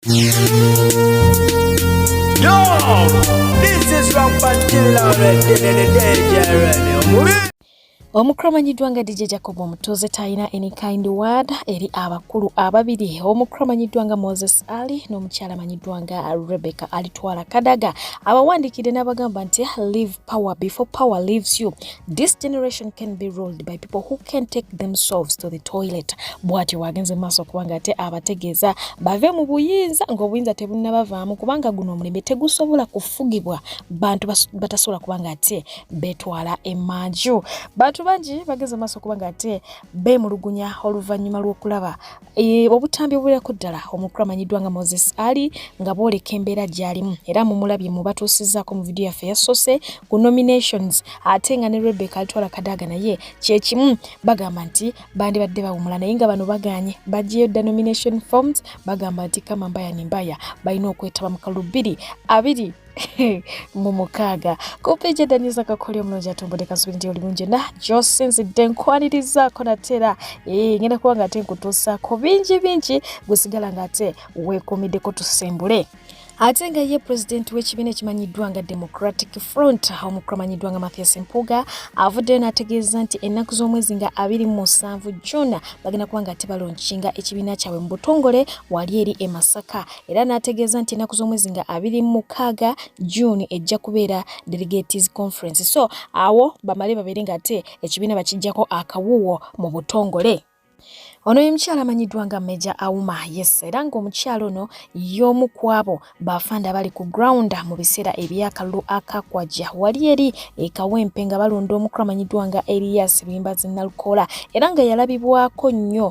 Yo, this is Rampant Killer Red, the DJ Red, Omukulu amanyiddwa nga DJ Jacob omutuuze talina any kind word eri abakulu ababiri omukulu amanyiddwa nga Moses Ali n'omukyala amanyiddwa nga Rebecca Alitwala Kadaga abawandiikidde n'abagamba nti leave power before power leaves you this generation can be ruled by people who can take themselves to the toilet bwatyo wagenze maaso kubanga ate abategeeza bave mu buyinza ngaobuyinza tebunnabavaamu kubanga guno omulembe tegusobola kufugibwa bantu batasobola kubanga ate betwala emanju bantu bangi bagenze maaso kubanga ate bemulugunya oluvannyuma lw'okulaba E, obutambi obuwerako ddala omukulu amanyiddwa nga moses ali nga bwoleka embeera gyalimu era mumulabye mu batuusizaako mu vidiyo yaffe yasoose ku nominations ate nga ne rebeka alitwala kadaaga naye kyekimu bagamba nti bandibadde bawumula naye nga bano baganye bagiyo dda nomination forms bagamba nti kama mbaya ne mbaya balina okwetaba mu kalulu bbiri abiri mu mukaaga kumpi gyedanyiza kakolya omulungi atumbudde kasubiri nti oli mungi na gyosinzidde nkwanirizaako natera eh, ngenda kuba nga ate nkutuusaako bingi bingi gusigala nga ate weekuumiddeko tusembule ate nga ye pulezidenti w'ekibiina ekimanyiddwa nga democratic front omukulu amanyiddwa nga mathias mpuuga avuddeyo n'ategeeza nti ennaku z'omwezi nga abiri mu musanvu june bagenda kuba nga tebalonkinga ekibiina kyabwe mu butongole wali eri e masaka era n'ategeeza nti ennaku z'omwezi nga abiri mu mukaaga June ejja kubeera delegates conference so awo bamale babeere nga ate ekibiina bakijjako akawuwo mu butongole ono ye mukyala amanyiddwa nga meja auma yes era ng'omukyala ono y'omu ku abo bafanda abali ku ground mu biseera ebyakalulu akakwajja wali eri ekawempe nga balonda omukulu amanyiddwa nga elias bimbazi nalukoola era nga yalabibwako nnyo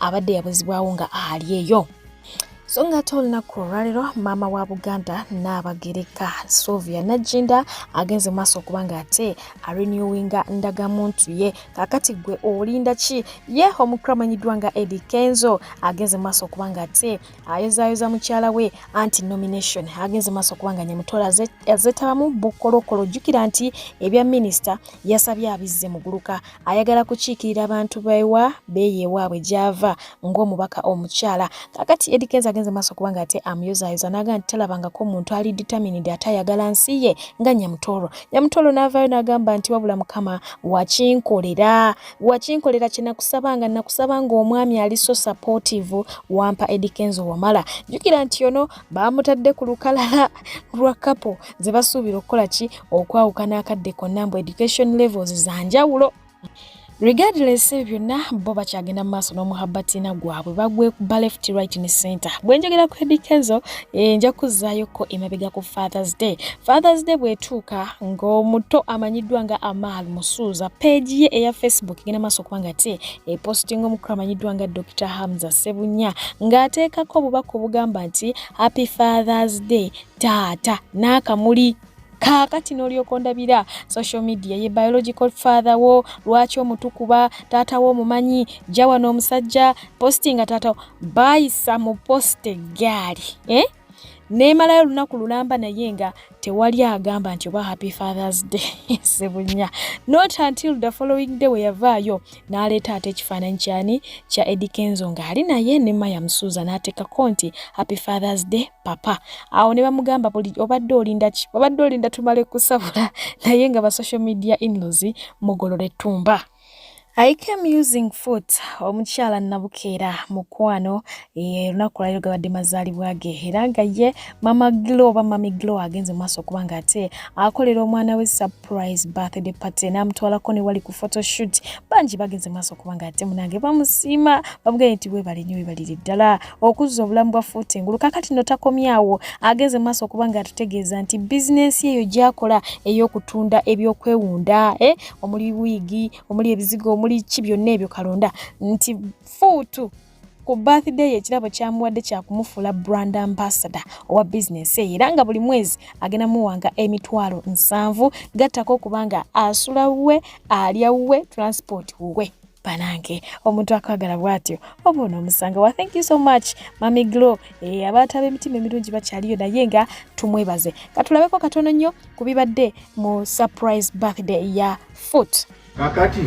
abadde yabuzibwawo nga ali eyo so nga ate olunaku olwalero maama wa buganda naabagereka sovia najinda agenze mu maaso okuba nga ate arenewinga ndagamuntu ye kakati gwe olinda ki ye omukulu amanyiddwa nga edi kenzo agenze mu maaso okuba nga ate ayozayoza mukyala we anti nomination agenze mu maaso okuba nga nyamutola azetabamu bukolokolo jjukira nti ebya minisita yasabye abizze muguluka ayagala kukiikirira abantu bewa beeyo ewaabwe gy'ava ng'omubaka omukyala kakati Eddy Kenzo agenze maaso kuba nga ate amuyozaayoza n'aga nti talabangako omuntu ali determined ate ayagala nsi ye nga Nyamutooro Nyamutooro n'avaayo n'agamba nti wabula mukama wakinkolera wakinkolera kye nakusabanga nakusabanga omwami ali so supportive wampa Eddy Kenzo wamala jjukira nti ono baamutadde ku lukalala lwa kapo ze basuubira okukola ki okwawukana akadde konna mbu education levels za njawulo regardless ebyo byonna bo bakyagenda mu maaso n'omuhabbatina gwabwe bagwe ba left right ne center bwe njogera ku edikezo eh, nja kuzzayoko emabega ku fathers day fathers day bwetuuka ng'omuto amanyiddwa nga amaal musuuza peegi ye eya facebook egenda maaso okuba nga te epostinga omukulu amanyiddwa nga dr hamza sebunya ng'ateekako obubaka obugamba nti happy fathers day taata n'akamuli kaakati n'olyoka ondabira social media ye biological father wo lwaki omutukuba taata wo omumanyi jawano omusajja postinga taata bayisa mu post eggaali eh? neemalayo olunaku lulamba naye nga tewali agamba nti oba happy fathers day sebunya not until the following day weyavaayo n'aleeta ate ekifaananyi kyani kya edikenzo ng'ali naye ne maya musuuza n'ateekako nti happy fathers day papa awo ne bamugamba buli obadde olinda ki obadde olinda tumale kusabula naye nga ba social media inlos mugolole tumba I came using foot omukyala nabukeera mukwano olunaku lwaliro gabadde mazaalibwa ge era nga ye mama glo oba mami glo agenze mu maaso okuba nga ate akolera omwana we surprise birthday party n'amutwalako ne wali ku photoshoot bangi bagenze mu maaso okuba nga ate munange bamusiima bamugaye nti webale nnyo webalire ddala okuzza obulamu bwa fuuti engulu kakati no takomyawo agenze mu maaso okuba nga atutegeeza nti bizinensi eyo gyakola ey'okutunda ebyokwewunda eh? omuli wiigi omuli ebizigo omuli ki byonna ebyo kalonda nti fuutu ku birthday ye ekirabo kyamuwadde kyakumufuula brand ambassador owa bizinensi eyo era nga buli mwezi agenda muwanga emitwalo nsanvu gattako okubanga asula wuwe alya wuwe transport wuwe banange omuntu akwagala bwatyo oba onoomusanga wa thank you so much mami glo e, eh, abantu ab'emitima emirungi bakyaliyo naye nga tumwebaze katulabeko katono nnyo ku bibadde mu surprise birthday ya foot kakati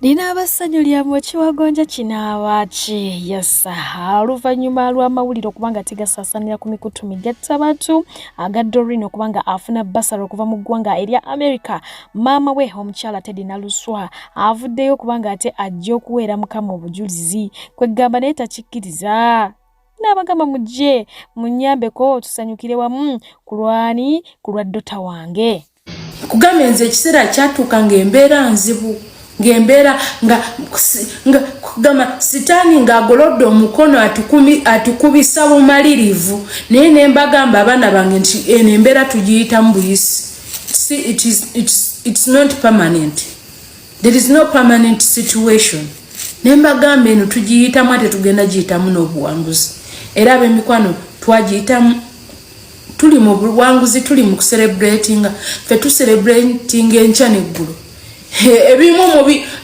linaaba ssanyu lya mukiwagonja kinaaba ki yasa oluvannyuma lw'amawulire okuba nga tigasaasanira ku mikutu migatta bantu aga dorin okuba nga afuna basala okuva mu ggwanga erya america maama we omukyala tedi naluswa avuddeyo okuba nga ate ajja okuweera mukama obujulizi kweggamba naye takikkiriza n'abagamba mujje munyambeko tusanyukire wamu kulwani ku lwa dota wange kugambye nze ekiseera kyatuuka ng'embeera nzibu ng'embeera nga kugamba sitaani ng'agolodde omukono atukubisa bumalirivu naye ne mbagamba abaana bange nti eno embeera tugiyitamu buyisi see it is, it is, it's not permanent there is no permanent situation naye mbagamba eno tugiyitamu ate tugenda giyitamu n'obuwanguzi era ab'emikwano twagiyitamu tuli mu buwanguzi tuli mu kuserebratinga fe tuserebratinga enkya neggulu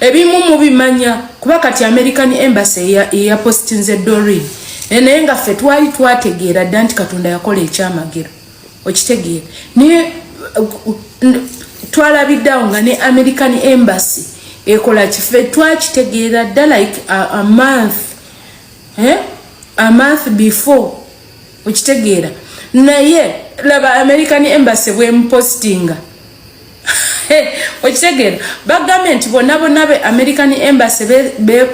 ebimu mubimanya kuba kati american embassy eyapostinze dorin eh, naye nga ffe twali twategeera dda nti katonda yakola ekyamagero okitegeera naye eh, twalabiddeawo nga ne american embassy ekola kife twakitegeera dda like a, a month eh? a month before okitegeera naye laba american embassy bwemupostinga okitegeera bagambye nti bonna bonna be american embassy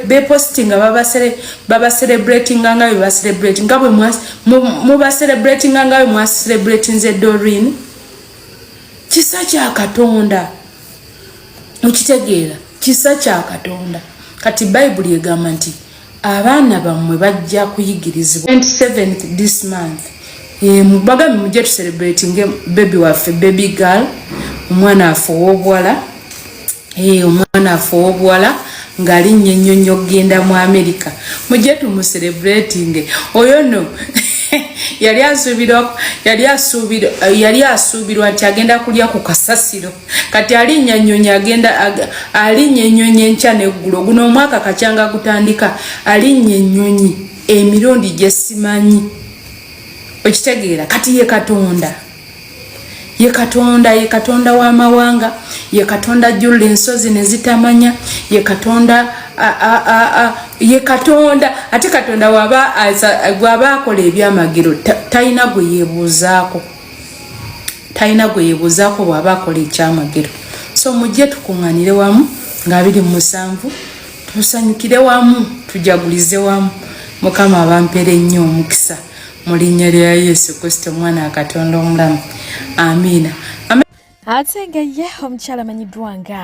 bepostinga babacelebratinga nga bebacelebrati nga bwemubacelebratinga nga bwemwacelebratinze dorin kisa kya katonda okitegeera kisa kya katonda kati bayibuli egamba nti abaana bammwe bajja kuyigirizibwa 27 this month eh, mubagambe mujja tucelebratinge bebi waffe bebi gal omwana waffe owobuwala eh, omwana waffe owobuwala ngaali nnyo ennyo nnyo okugenda mu amerika mujja tumucelebratinge oyo no yali asuubirwa nti agenda kulya ku kasasiro kati alinya nyonyi agenda alinya enyonyi enkya neggulo guno omwaka kakyanga gutandika alinya enyonyi emirundi gyesimanyi okitegeera kati ye katonda ye katonda ye katonda w'amawanga ye katonda jjulula ensozi ne zitamanya ye katonda ye katonda ate katonda gwaba akola ebyamagero talina gwe yebuuzaako talina gwe yebuuzaako bw'aba akola ekyamagero so mujje tukuŋŋanire wamu nga biri mu musanvu tusanyukire wamu tujagulize wamu mukama abampera ennyo omukisa mu linnya lya yesu kristo omwana wa katonda omulamu amiina ate nga ye omukyala amanyiddwa nga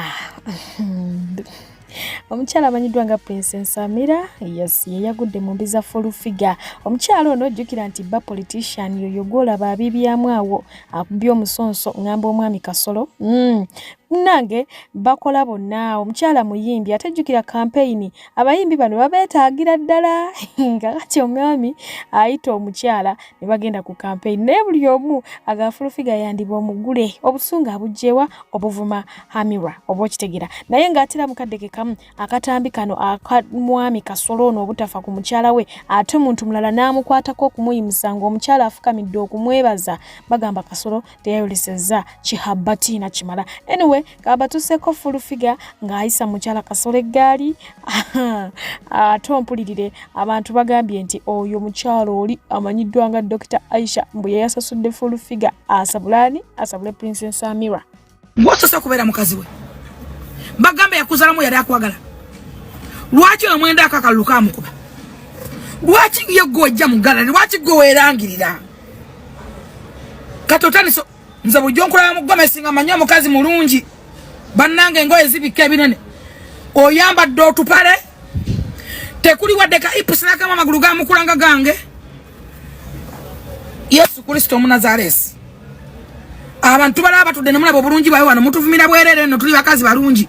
omukyala amanyiddwa nga prince nsamira yes yeyagudde mu mbi za folufiga omukyala ono ojjukira nti bba politician yoyo gwolaba abibyamu awo akubye omusonso ngamba omwami kasolo mm. nange bakola bonna omukyala muyimbi ate jjukira kampeyini abayimbi bano babeetaagira ddala nga kati omwami ayita omukyala ne bagenda ku kampeyini naye buli omu agafulufiga yandiba omugule obusungu abugyewa obuvuma hamira oba okitegera naye ng'atera mukadde ke kamu akatambi kano akamwami kasolo ono obutafa ku mukyala we ate omuntu mulala n'amukwatako okumuyimusa ng'omukyala afukamidde okumwebaza bagamba kasolo teyayolesezza kihabbati nakimala anyway kabatuseeko fulufiga ng'ayisa mukyala kasolo eggaali ate ompulirire abantu bagambye nti oyo mukyalo oli amanyiddwa nga dokita aisha mbu yeyasasudde fulufiga asabulani asabule princess amira ngosose okubeera mukazi we bagambe yakuzalamu yali akwagala lwaki oyo mwenda akakalulu kamukuba lwaki ye gwe ojja mugala lwaki gwe weerangirira kati otandise nze bujjo nkulaba mu gomesi nga manyi omukazi mulungi bannange engoye zibikka ebinene oyambadde otupale tekuli wadde ka ipusi nakamu amagulu gamukulanga gange yesu kristo omunazaresi abantu balaba batudde nemulaba obulungi bwawe wano mutuvumira bwerere no tuli bakazi balungi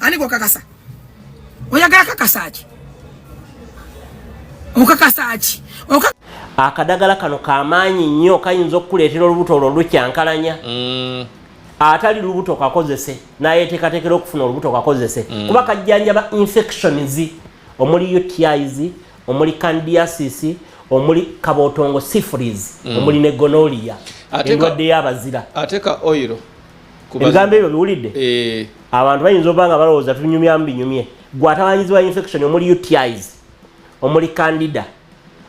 ani gwokakasa oyagala kakasa ki okakasa ki akadagala kano kamaanyi nnyo kayinza okukuleetera olubuto olwo lukyankalanya mm. atali lubuto kakozese nayeteekateekera okufuna olubuto kakozese mm. kuba kajjanjaba infections omuli utis omuli candiasis omuli kabotongo syphilis mm. omuli ne gonolia endwadde y'abazira ate ka oiro ebigambo ebyo biwulidde eh. abantu bayinza oba nga balowooza tunyumya mu binyumye gwe atabanyizibwa infection omuli utis omuli candida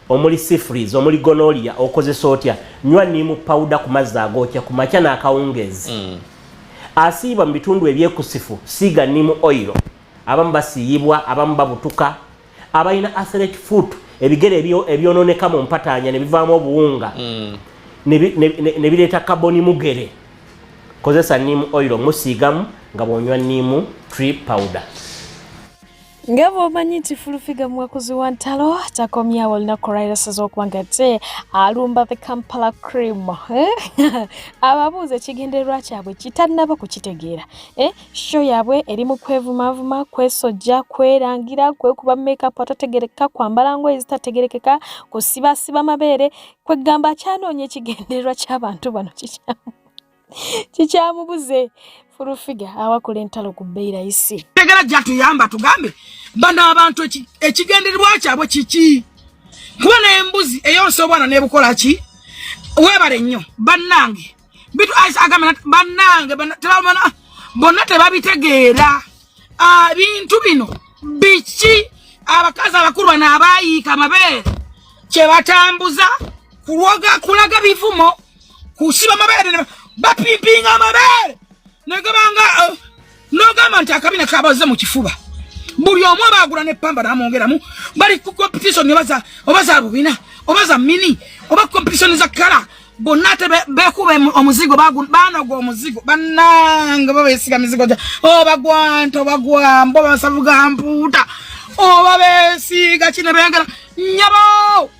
omuli sifries omuli gonolia okozesa otya nywa nimu pawuda ku mazzi agookya ku makya n'akawungeezi mm. asiibwa mu bitundu ebyekusifu siiga nimu oiro abamu basiiyibwa abamu babutuka abalina athletic foot ebigere ebyononeka mu mpataanya ne bivaamu obuwunga mm. ne bireeta kaboni mugere kozesa niimu oil omusiigamu nga bwonywa niimu tree powder nga bwomanyi nti fulufiga muwakuzi wa ntalo takomyawo olunaku olwayirasaza okuba nga te alumba the kampala cream eh? ababuuza ekigendererwa kyabwe kitanaba kukitegeera eh? Show yaabwe eri mu kwevumaavuma, kwesojja, kwerangira, kwekuba makeup atategerekeka, kwambala ngoye ezitategerekeka, kusibaasiba mabeere, kweggamba akyanoonya ekigendererwa ky'abantu bano kikyamu kikyamubuze fulufiga awakula entalo ku bbeyi layisi. Tegera gyatuyamba tugambe bano abantu ekigendererwa kyabwe kiki? Kuba n'embuzi eyonsa obwana n'ebukola ki? Weebale nnyo bannange. bitu aisha agamba nati bannange tebamana bonna tebabitegeera ah, bintu bino biki abakazi abakulu bano abaayiika amabeere kyebatambuza kulwoga kulaga bivumo kusiba amabeere bapimpinga amabeere negabanga uh, nogamba nti akabina kabaze mu kifuba buli omu oba agula ne pamba namwongeramu bali ku competition obaza obaza bubina obaza mini oba competition za kala bonna ate bekuba omuzigo banoga omuzigo banange babesiga mizigo gya obagwanta oh, obagwamba obasavuga mpuuta oba oh, besiga kine bengera nyabo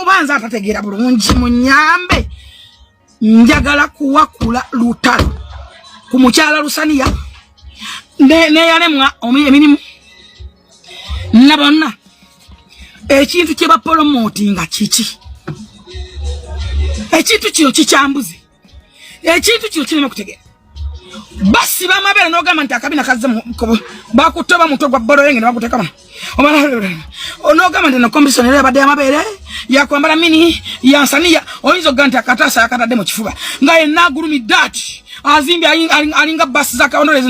oba nze atategeera bulungi munyambe njagala kuwakula lutalo ku mukyala lusaniya neyalemwa emirimu na bonna ekintu kyebapolomotinga kiki ekintu kino kikyambuze ekintu kino kirina okutegeera basi bamabeera nogamba nti akabina kazze bakutte oba mutwe gwa boloyenge nebagutekamu onogamba nti nokombisoni era yabadde yamabeere yakwambala mini yansaniya oyinza okuga nti akataasa yakatadde mu kifuba nga yenna agulumidde ati azimbye alinga basi zakawondole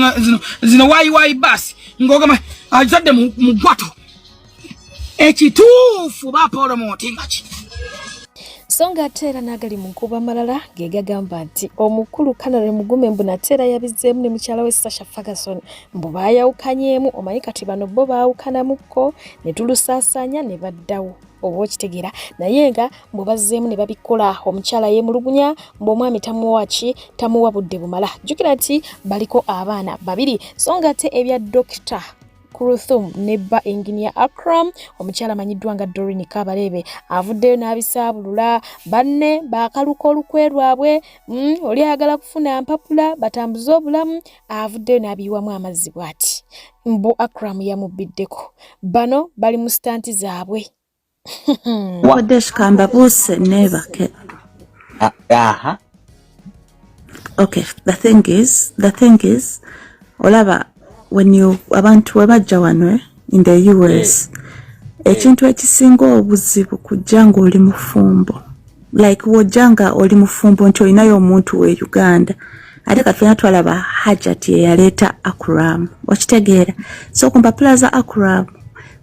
zino wayiwayi basi ngogamba azadde mu gwato ekituufu ba paul mutinga ki so nga ate era n'agali mu nkuba amalala ge gagamba nti omukulu kanare mugume mbu nate era yabizzeemu ne mukyala we sasha ferguson mbu baayawukanyeemu omanyi kati bano bo baawukanamukko ne tulusaasaanya ne baddawo oba okitegeera naye nga mbu bazzeemu ne babikola omukyala yeemulugunya mbu omwami tamuwa ki tamuwa budde bumala jjukira nti baliko abaana babiri so nga ate ebya dokita Kuruthum ne bba Engineer Akram omukyala amanyiddwa nga Doreen Kabalebe avuddeyo n'abisaabulula banne baakaluka olukwe lwabwe mm, oli ayagala kufuna mpapula batambuze obulamu avuddeyo n'abiyiwamu amazzi bw'ati mbu Akram yamubbiddeko bano bali mu sitanti zaabwe. Kodesh Kambabuse never came. Uh, uh-huh. Okay, the thing is, the thing is, olaba when you abantu webajja wano eh, in the US eh. ekintu ekisinga obuzibu kujja ng'oli mufumbo like wojja nga oli mufumbo nti olinayo omuntu we Uganda ate kafena twalaba hajati eyaleeta akuramu okitegeera so ku mpapula za akuramu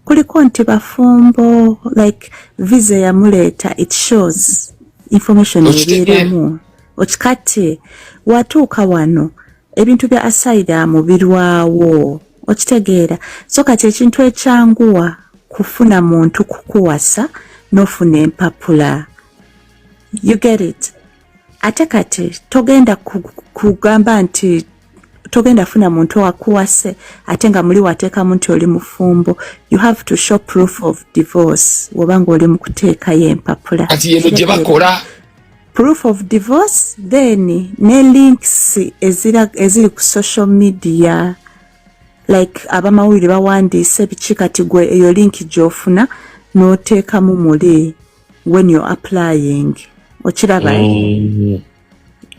kuliko nti bafumbo like visa yamuleeta it shows information ebeeramu okikati watuuka wano ebintu bya asaidamu birwawo okitegeera so kati ekintu ekyanguwa kufuna muntu kukuwasa nofuna empapula you get it ate kati togenda kugamba nti togenda funa muntu wakuwase ate nga muli wateekamu nti oli mufumbo you have to show proof of divorce woba nga oli mukuteekayo empapula kati yeno gye bakola proof of divorce then ne links eziri ku social media like abamawulire bawandiise biki kati gwe eyo linki gyofuna noteekamu muli when you're applying okiraba mm.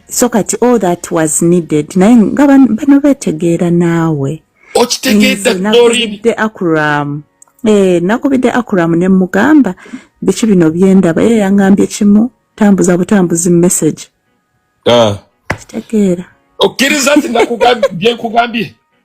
so kati all that was needed naye nga bano betegeera naawe okitegeedde akuramu eh, nakubidde akuramu ne mugamba biki bino byendaba ye yangambye kimu tambuza butambuzi message ah. kitegeera okkiriza nti byenkugambye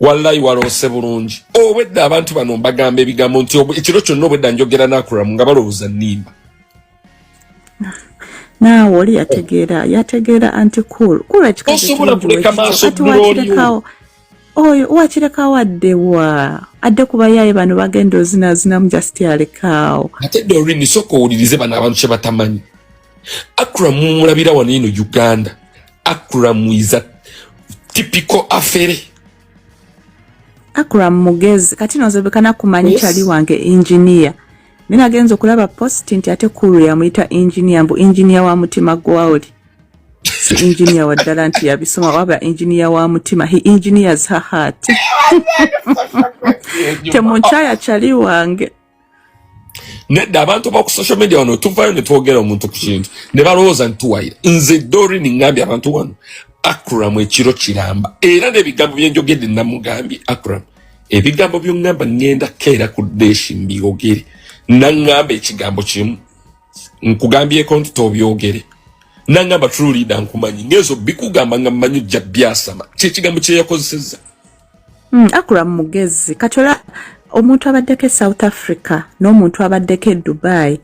wallayi waloose bulungi obwedda abantu bano mbagamba ebigambo nti ekiro kyonna obwedda njogera nakuramu nga balowooza nimba naawe oli yategeera yategeera anti cool cool ekikaosobola kuleka maaso gulolio oyo wakirekawo addewa adde kubayaye bano bagenda ozinazinamu just alekaawo ate dorini soka owulirize bano abantu kyebatamanyi Akram mumulabira wano ino Uganda. Akram is a typical affair. Akram mugezi kati nozobekana kumanya yes. chali wange engineer. Mina agenza okulaba post nti ate kuru ya muita engineer mbu engineer wa mutima gwawuli. Si engineer wa dala nti ya bisoma waba engineer wa mutima. He engineers her heart. Temunchaya chali wange. nedda abantu baku social media wano tuvayo netwogera omuntu ku kintu ne balowooza nti tuwayira nze dorin ngambye abantu wano akram ekiro kiramba era n'ebigambo byenjogedde namugambye akram ebigambo byongamba ngenda keera ku deshi mbyogere nangamba ekigambo kimu nkugambyeko nti tobyogere nangamba trulida nkumanyi ngezo bikugamba nga mmanyi jja byasama kyekigambo kyeyakozeseza Mm, akura mugezi kati ola omuntu abaddeko e south africa n'omuntu abaddeko e dubai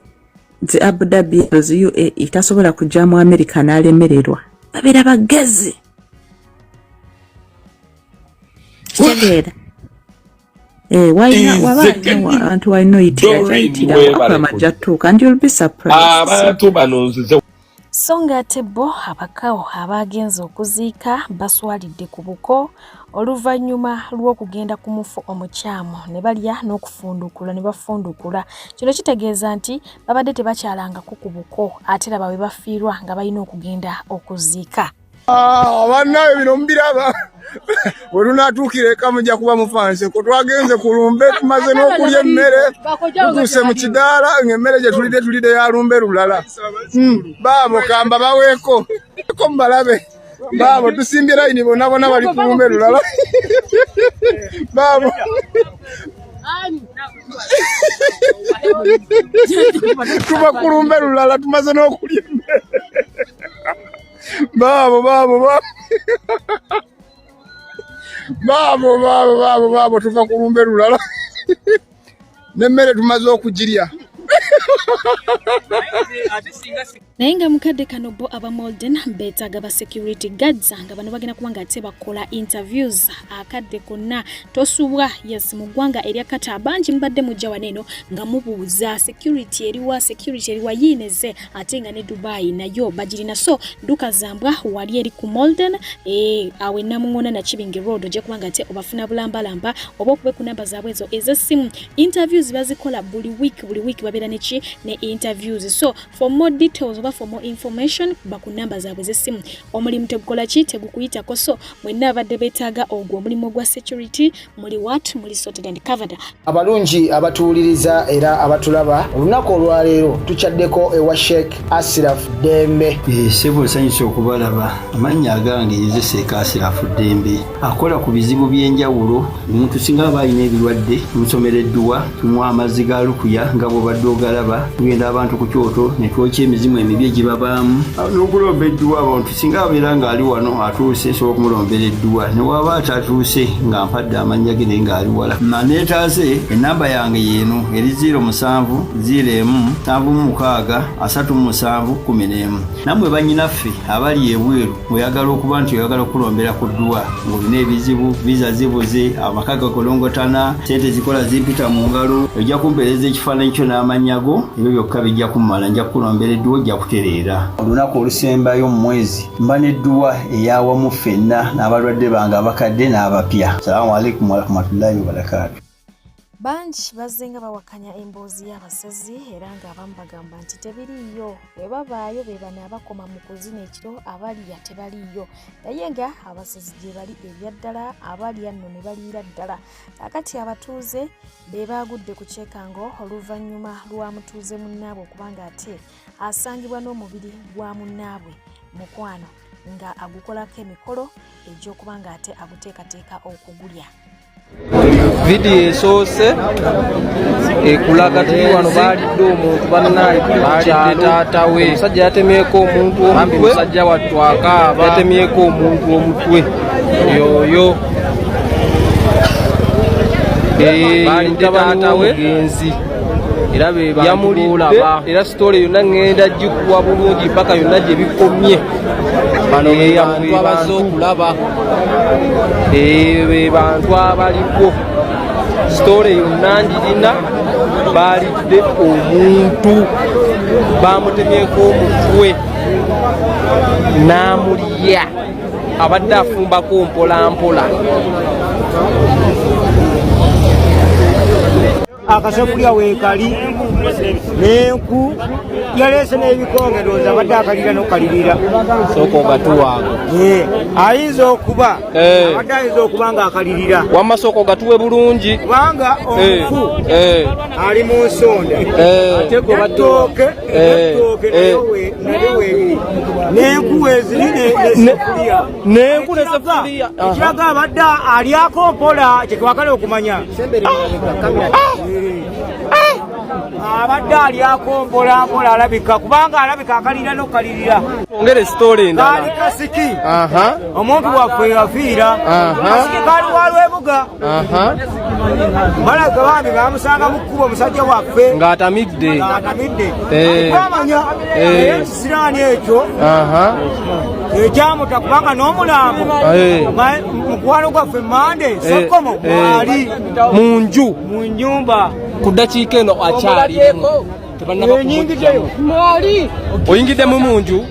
zi abu dhabi ezo uae tasobola kujja mu america n'alemererwa babeera bagezi kitegeera eh, abantu walina oyitiraakura majja tuuka ndi olbi surprise abantu bano nzize so ng'ate bo abakawo abaagenze okuziika baswalidde ku buko oluvannyuma lw'okugenda ku mufu omukyamu ne balya n'okufundukula ne bafundukula kino kitegeeza nti babadde tebakyalangako ku buko ate laba we bafiirwa nga balina okugenda okuziika Ah, bannawe bino mubiraba werunaatuukira eka mujja kuba mufanse ko twagenze ku lumbe tumaze n'okulya emmere tutuuse mu kidaala ng'emmere gye tulidde tulidde ya lumbe lulala hmm, baabo kamba baweeko ko mubalabe baabo tusimbye layini bonna bona bali ku lumbe lulala baabo tuba ku lumbe lulala tumaze n'okulya emmere Baabo baabo baabo. Baabo baabo baabo baabo tuva ku lumbe lulala. Nemmere tumaze okugirya. naye nga mukadde kano bo aba molden betaaga ba security guards nga bano bagenda kuba nga ate bakola interviews akadde konna tosubwa yes mu ggwanga erya kata bangi mubadde mujja waneeno nga mubuuza security eriwa security eriwa yiineze ate nga ne dubai nayo bagirina so duka zambwa wali eri ku molden eh, awe namuŋona nakibinge road ojja kuba nga ate obafuna bulambalamba oba okube ku namba zaabwe ezo ez'essimu interviews bazikola buli week buli week babeera neki ne interviews so for more details oba for more information ba ku namba zaabwe ez'essimu omulimu tegukola ki tegukuyitako so mwenna abadde beetaaga ogwo omulimu ogwa security muli what muli sorted and covered abalungi abatuwuliriza era abatulaba olunaku olwaleero tukyaddeko ewa sheik asiraf dembe eh, sebo nsanyusa okubalaba amannya agange yeze sheik asiraf dembe akola ku bizibu by'enjawulo omuntu singa aba alina ebirwadde omusomera edduwa tunywa amazzi ga lukuya nga bwobadde ogalaba tugenda abantu ku kyoto ne twokya emizimu emibi egibabaamu n'okulomba edduwa abantu singa abeera ng'ali wano atuuse nsobola okumulombera edduwa ne waaba atatuuse nga mpadde amannya ge naye ng'ali wala maneetaaze ennamba yange yeeno eri 0 musanvu 0 emu nsanvu mu mukaaga asatu mu musanvu kumi n'emu nammwe bannyinaffe abali ebweru oyagala okuba nti oyagala okukulombera ku dduwa ng'olina ebizibu viza zibuze amaka gakolongotana sente zikola zimpita mu ngalo ojja kumpeereza ekifaananyi kyo n'amannya go ebyo byokka bijja kummala nja kukulombera edduwa ojja kutereera olunaku olusembayo mu mwezi mba n'edduwa eyawamu ffenna n'abalwadde bange abakadde n'abapya salaamu aleikum warahmatullahi wabarakaatu bangi bazzenga bawakanya emboozi y'abasezi era ng'abamu bagamba nti tebiriiyo bwe babaayo be bano abakoma mu kuzina ekiro abalya tebaliiyo naye nga abasezi gye bali ebya ddala abalya nno ne baliira ddala kakati abatuuze be baagudde ku kyekango oluvannyuma lwa mutuuze munnaabwe okubanga ate asangibwa n'omubiri gwa munnaabwe mukwano nga agukolako emikolo egy'okuba nga ate aguteekateeka okugulya vidiyo esoose ekulaga tuli wano baalidde omuntu bannaye baalidde taata we omusajja yatemyeko omuntu omutwe musajja wattu akaaba yatemyeko omuntu omutwe yoyo baalidde taata we era be bamulidde era sitole yonna ŋŋenda gikuwa bulungi mpaka yonna gye bikomye eyabantu abaze okulaba be bantu abaliko sitole yonna ngirina baalidde omuntu bamutemyeko omutwe n'amulya abadde afumbako mpolampola akasekulya weekali n'enku yaleese n'ebikonge ndowooza abadde akalira n'okukalirira sooka ogatuwange ayinza okuba eh. abadde ayinza okuba ng'akalirira wamma sooka ogatuwe bulungi kubanga omufu eh. eh. ali mu nsonda atooke atooke naye weebiri n'enku weeziri n'esekulya ekiraga abadde alyako mpola kyetwagala okumanya abadde alyako mpola mpola alabika kubanga alabika akalira nokukalirira ongere sitole endalaali kasiki omuntu waffe yafiira kasiki kali walwebuga balaga bambi bamusanga mu kkubo omusajja waffe ng'atamidde ng'atamidde eh. amanya eh. siraani ekyo ekyamuta kubanga n'omulambo mukwano gwaffe mande eh, sokomo eh. mwali mu nju mu nyumba ku ddakiika eno akyalimu oyingiddemu mu nju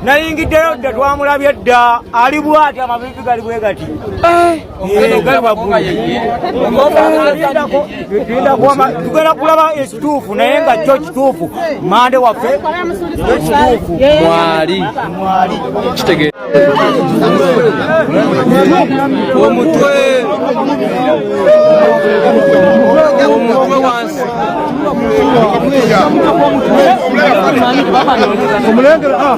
nayingiddeyo dda twamulabye dda ali bwati amabibi gali bwe gati eh. tugenda kulaba ekituufu naye nga kyo kituufu mande waffe ekituufu mwali kitegeera omutwe omutwe wansi omulengera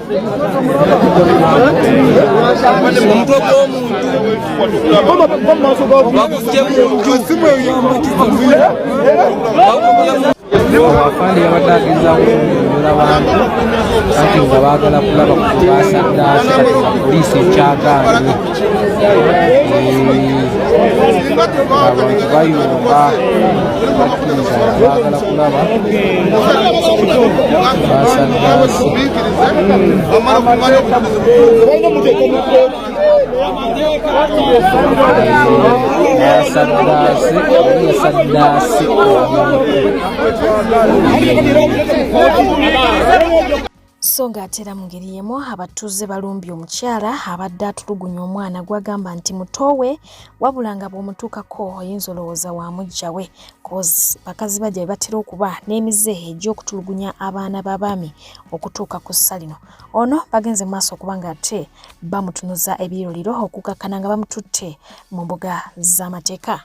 omutwe gw'omuntu baguggye mu nju afande yabadde agezaako okunyonyola abantu anti nga baagala kulaba kubasandaasa poliisi ekyagaanye abantu bayomba bakkiriza baagala saddaasi obuye saddaasi so ng'ate era mu ngeri y'emu abatuuze balumbye omukyala abadde atulugunya omwana gwagamba nti muto we wabula nga bw'omutuukako oyinza olowooza wa mujja we cos bakazi bajja be batera okuba n'emize egy'okutulugunya abaana b'abaami okutuuka ku ssa lino ono bagenze maaso okuba ng'ate bamutunuza ebiyiroliro okukakkana nga bamututte mu mbuga z'amateeka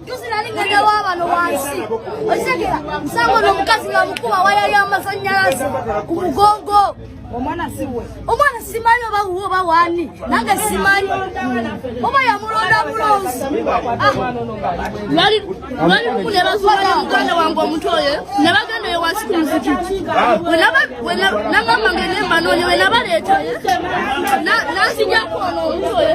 Juzi nali ngenda wa bano wansi okitegera musango n'omukazi nga mukuba waya y'amasannyalaze ku mugongo omwana siwe omwana simanyi oba wuwe oba wani nange simanyi oba yamulonda mulonzi lwali lumu ne bazuula muganda wange omuto oyo ne bagenda eyo wansi ku muzikiti nagamba nga enemba noonye we nabaleetayo nanzijako ono omuto oyo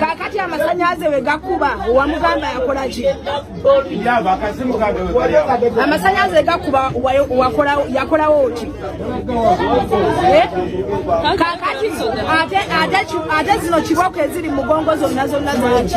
kakati amasanyaze we gakuba wamugamba yakolaki amasanyaze gakuba yakolawo ki eh? kakati ate zino kiboko eziri mugongo zonna zonna zaki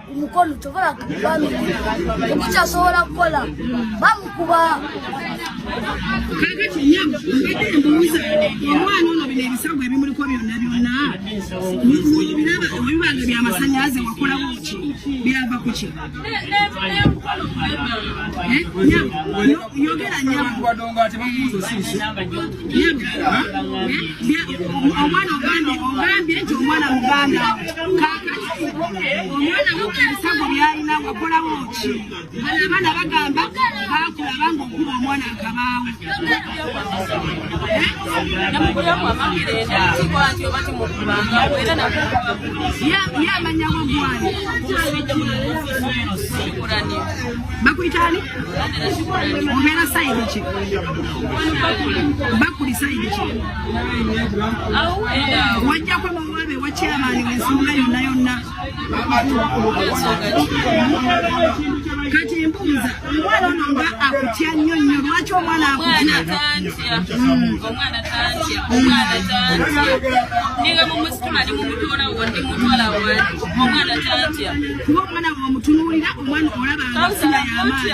omukono tobola okukyasobola kukola bamukuba kakati nyabo mbadde mbuuza omwana ono bino ebisago ebimuliko byonna byonna obiraba ebibanga byamasanyalaze wakolawo ki byava ku ki yogera nyabo omwana ogambye ogambye nti omwana muganda omwana mukasago byalina wakolawo ki bano abaana bagamba bakulaba nga okuba omwana akabaawo yamanya wagwani bakuyitani obeera sayidi ki bakuli sayidi ki wajjako kati mbuuza omwana ono nga akutya nnyo nnyo lwaki omwana akutyakuba omwana womutunuulira omwana olaba nga sina yamaani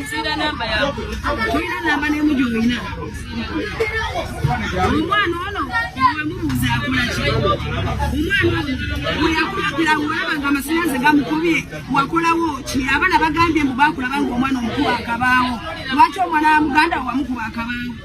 nzira namba yawe tulina namba nemu gyolina omwana ono wemubuuza akolaki omwana ono weyakulakira olaba nga amasanyanze gamukubye wakolawo ki abana bagambye mbu bakulaba nga omwana omukuba akabaawo lwaki omwana wa muganda wamukuba akabaawo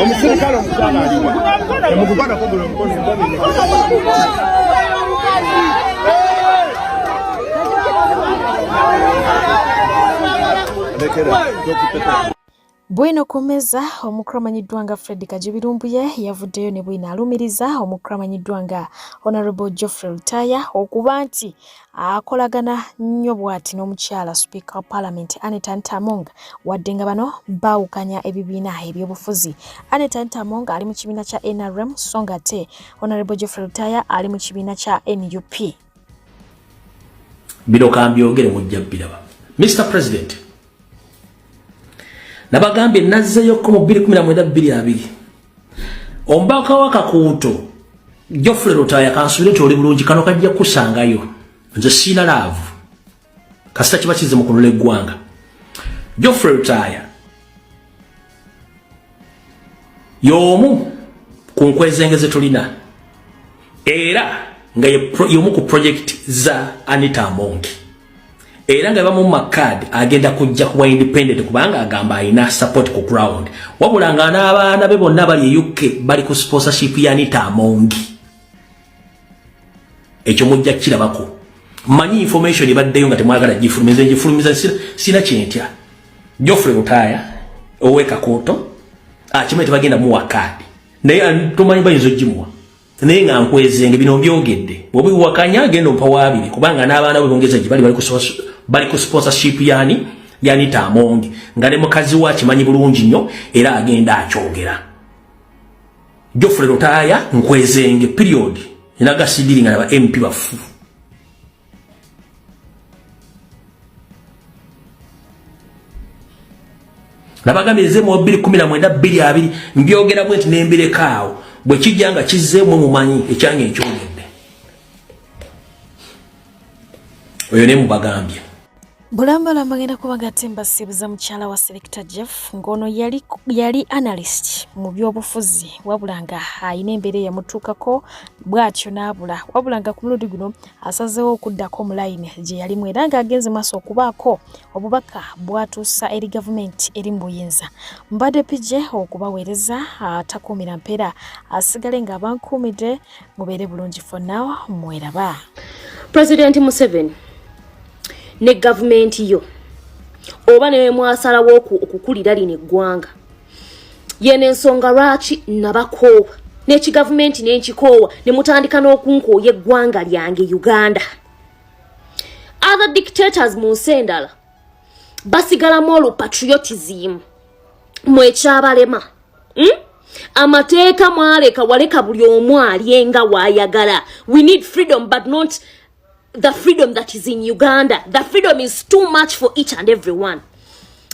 omuserikale omukyala aliwa emugugwana kugula omukono Bwino Kumeza omukulu amanyiddwa nga Fred Kajubirumbuye yavuddeyo ne bwino alumiriza omukulu amanyiddwa nga Honorable Geoffrey Lutaya okuba nti akolagana nnyo bwati n'omukyala sipiika wa paalamenti aneta ntamong wadde nga bano baawukanya ebibiina ebyobufuzi aneta ntamong ali mu kibiina kya nrm so nga ate honorable geoffrey lutaya ali mu kibiina kya nup bino kambyogere mujja biraba mr president nabagambye nazzeeyokko mu 2 1 2 2 Omubaka wa Kakuuto Geoffrey Lutaaya kansubire nti oli bulungi kano kajja kukusangayo nze siina laavu kasita kiba kize mu kunula eggwanga Geoffrey Lutaaya y'omu ku nkwezenge ze tulina era nga y'omu ku projekiti za Anita Amongi era nga bamu makad agenda kujja kuba independent kubanga agamba alina support ku ground wabula nga n'abaana be bonna bali e uk bali ku sponsorship ya nita amongi ekyo mujja kukirabako manyi information ebaddeyo nga temwagala gifulumiza gifulumiza sina kyentya jofre mutaya owekakoto akimanyi ah, tebagenda muwa kaadi naye tumanyi bayinza ogimuwa naye nga nkwezenge bino mbyogedde bwoba iwakanya agenda ompa waabiri kubanga n'abaana bwe bongeza gye bali bali ku sponsorship yani yanita amongi nga ne mukazi we akimanyi bulungi nnyo era agenda akyogera jofre lutaaya nkwezenge period era gasidiri nga naba mp bafu nabagambye nze mu 219 mbyogera bwenti nembirekaawo bwe kijja nga kizzeemu mumanyi ekyange nkyogedde oyo ne mubagambye bulambalamba ngenda kuba ngate mbasibuza mukyala wa selector jeff ng'ono yali, yali analyst mu byobufuzi wabula nga alina embeera eyamutuukako bw'atyo n'abula wabula nga ku mulundi guno asazeewo okuddako mu layini gye yalimu era ng'agenze maaso okubaako obubaka bw'atuusa eri gavumenti eri mu buyinza mbadde pije okubaweereza atakuumira mpeera asigale ng'abankuumidde mubeere bulungi for now mweraba pulezidenti museveni ne gavumenti yo oba newemwasalawo okukulira lino eggwanga yeno ensonga lwaki nabakoowa n'ekigavumenti nenkikoowa ne mutandika n'okunkooya eggwanga lyange uganda other dictators mu nsi endala basigalamu olupatriotism mwekyabalema hmm? amateeka mwaleka waleka buli omu alyenga wayagala we need freedom but not the freedom that is in uganda the freedom is too much for each and every one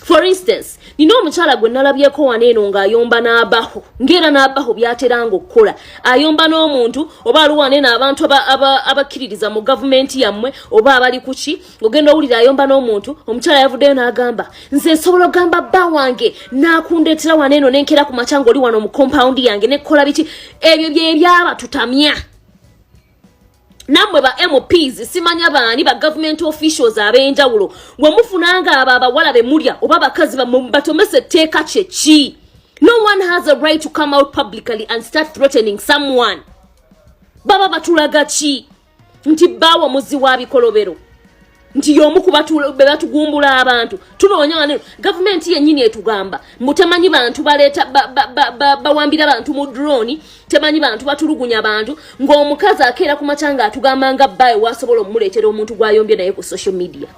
for instance nina omukyala gwe nalabyeko wano eno ng'ayomba n'abaho ng'era n'abaho byateranga okukola ayomba n'omuntu oba ali wano eno abantu abakkiririza mu gavumenti yammwe oba abali ku ki ogenda owulira ayomba n'omuntu omukyala yavuddeyo n'agamba nze nsobola ogamba bba wange n'akundeetera wano eno n'enkeera ku makya ng'oli wano mu kompawundi yange nekola biki ebyo bye byaba tutamya namwe ba mps simanya baani ba government officials ab'enjawulo bwe mufunanga abo abawala be mulya oba abakazi batomesa etteeka kye ki no one has a right to come out publicly and start threatening someone baba batulaga ki nti baawo muzi wa bikolobero nti y'omu ku be batugumbula abantu tunoonya wano gavumenti yennyini etugamba mbu temanyi bantu baleeta bawambira bantu mu droni temanyi bantu batulugunya bantu ng'omukazi akeera ku makya nga atugamba nga bbae wasobola omumuleetera omuntu gwayombye naye ku social media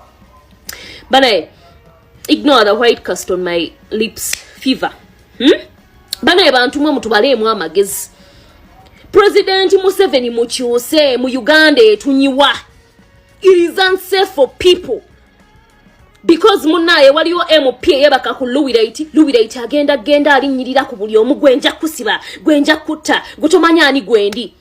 banaye ignore the white cast on my lips fever hmm? banaye bantu mwe mutubaleemu amagezi pulezidenti museveni mukyuse mu uganda etunyiwa it is unsafe for people because munaye waliwo mp eyebaka ku luwiraiti luwiraiti agenda genda alinyirira ku buli omu gwenja kusiba gwenja kutta gutomanya ani gwendi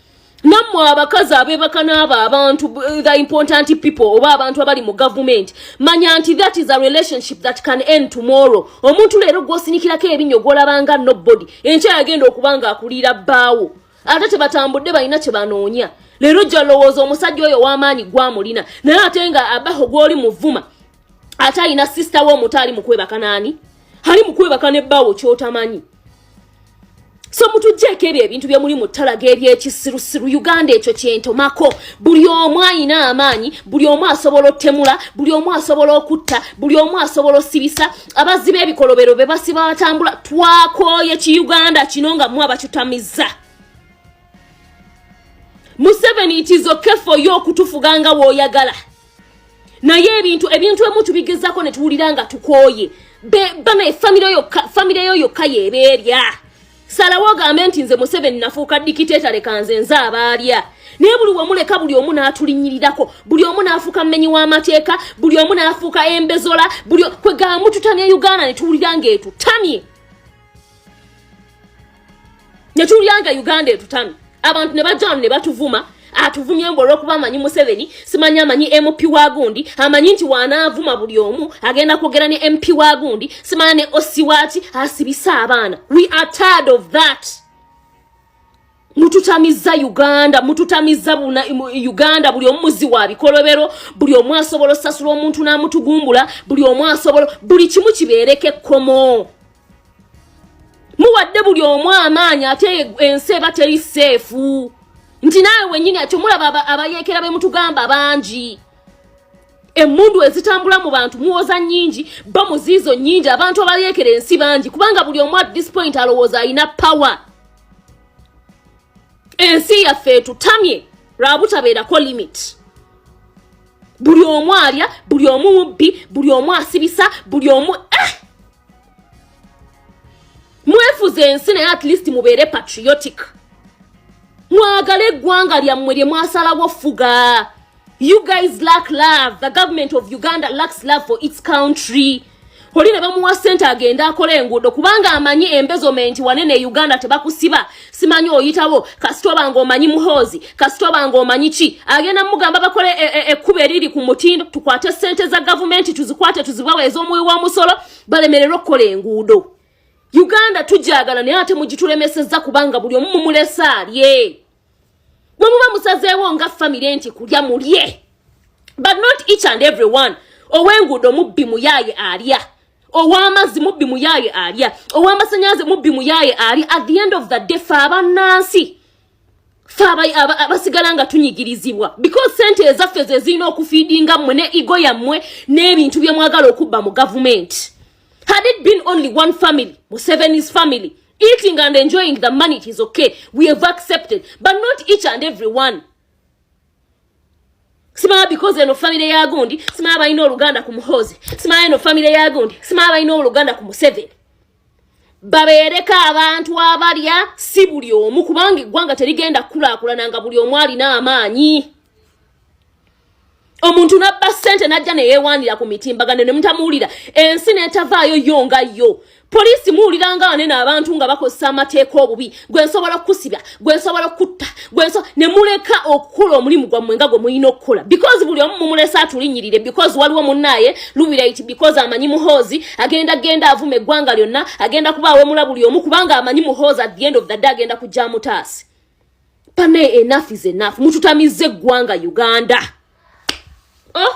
nammwe abakazi abebaka n'abo abantu eh, the important people oba abantu abali mu gavumenti manya nti that is a relationship that can end tomorrow omuntu leero gwosinikirako ebinyo gwolabanga nobody enkya yagenda okuba nga akulira bbaawo ate tebatambudde balina kyebanoonya leero jja lowooza omusajja oyo w'amaanyi gwamulina naye ate nga abaho gw'oli muvuma ate alina sisita we omuto ali mukwebaka naani ali mukwebaka ne bbaawo kyotamanyi so mutugjeeko ebyo ebintu bye muli mu ttalaga ebyekisirusiru uganda ekyo kyentomako buli omu ayina amaanyi buli omu asobola otemula buli omu asobola okutta buli omu asobola osibisa abazzi b'ebikolobero be basiba batambula twakooye ki uganda kino nga mwe abakitamiza museveni itizoke foyo okutufuga nga woyagala naye ebintu ebintu emu tubigezako ne tuwulira nga tukooye bana efamire yo yokka yebeerya salawo ogambe nti nze museveni nafuuka dikiteeta leka nze nze abaalya naye buli wemuleka buli omu n'atulinyirirako buli omu n'afuuka mumenyi w'amateeka buli omu n'afuuka embezola buli kwegamba mututamya uganda ne tuwulira nga etutamye ne tuwulira nga uganda etutamye abantu ne bajja wano ne batuvuma atuvumye mbu olwokuba amanyi museveni simanyi amanyi mp wa gundi amanyi nti wanaavuma buli omu agenda kwogera ne mp wa gundi simanya ne osiwaki asibise abaana we are tired of that mututamizza uganda mututamizza uganda buli omu muzi wa bikolobero buli omu asobola osasula omuntu n'amutugumbula buli omu asobola buli kimu kibeereko ekkomo muwadde buli omu amaanyi ate ensi eba teri seefu nti naawe wenyini akyo mulaba abayeekera be mutugamba bangi emundu ezitambula mu bantu muwoza nyingi ba muziizo nyingi abantu abayeekera ensi bangi kubanga buli omu at this point alowooza alina power ensi yaffe etutamye lwabutabeerako limit buli omu alya buli omu mubbi buli omu asibisa buli omu eh! mwefuze ensi naye at least mubeere patriotic mwagala eggwanga lyammwe lye mwasalawo fuga you guys lack love the government of uganda lacks love for its country oli ne bamuwa sente agende akola enguudo kubanga amanyi embezomenti wanene e uganda tebakusiba simanyi oyitawo kasita oba nga omanyi muhoozi kasita oba nga omanyi ki agenda mugamba bakole e, e, ekkuba eriri ku mutindo tukwate sente za gavumenti tuzikwate tuzibawe ez'omuwi w'omusolo balemererwe okukola enguudo uganda tujagala naye ate mugitulemesezza kubanga buli omu mumulese alye bwe muba musazeewo nga famire nti kulya mulye but not each and every one ow'enguudo mubbi muyaaye alya ow'amazzi mubbi muyaaye alya ow'amasanyaze mubbi muyaaye alya at the end of the day fe abannansi fe abasigala nga tunyigirizibwa because sente ezaffe ze zirina okufiidinga mmwe ne igo yammwe n'ebintu bye mwagala okubba mu gavumenti had it been only one family musevenis family eating and enjoying the money it is okay we have accepted but not each and every one simala because eno famire ya gundi simala balina oluganda ku muhozi simala eno famire ya gundi simala balina oluganda ku museveni babeereko abantu abalya si buli omu kubanga eggwanga terigenda kukulaakulana nga buli omu alina amaanyi omuntu nabba ssente najja neyewaanira ku mitimbagano ne mutamuwulira ensi netavaayo yo nga yo poliisi muwulira nga wanene abantu nga bakozesa amateeka obubi gwe nsobola okukusiba gwe nsobola okukutta gwe nso ne muleka okukola omulimu gwammwe nga gwe mulina okukola because buli omu mumulesa atulinyirire because waliwo munnaaye lubiraiti because amanyi muhoozi agenda genda avuma eggwanga lyonna agenda kuba awemula buli omu kubanga amanyi muhoozi at the end of the day agenda kujja mutaasi pane enough is enough mututamizza eggwanga uganda oh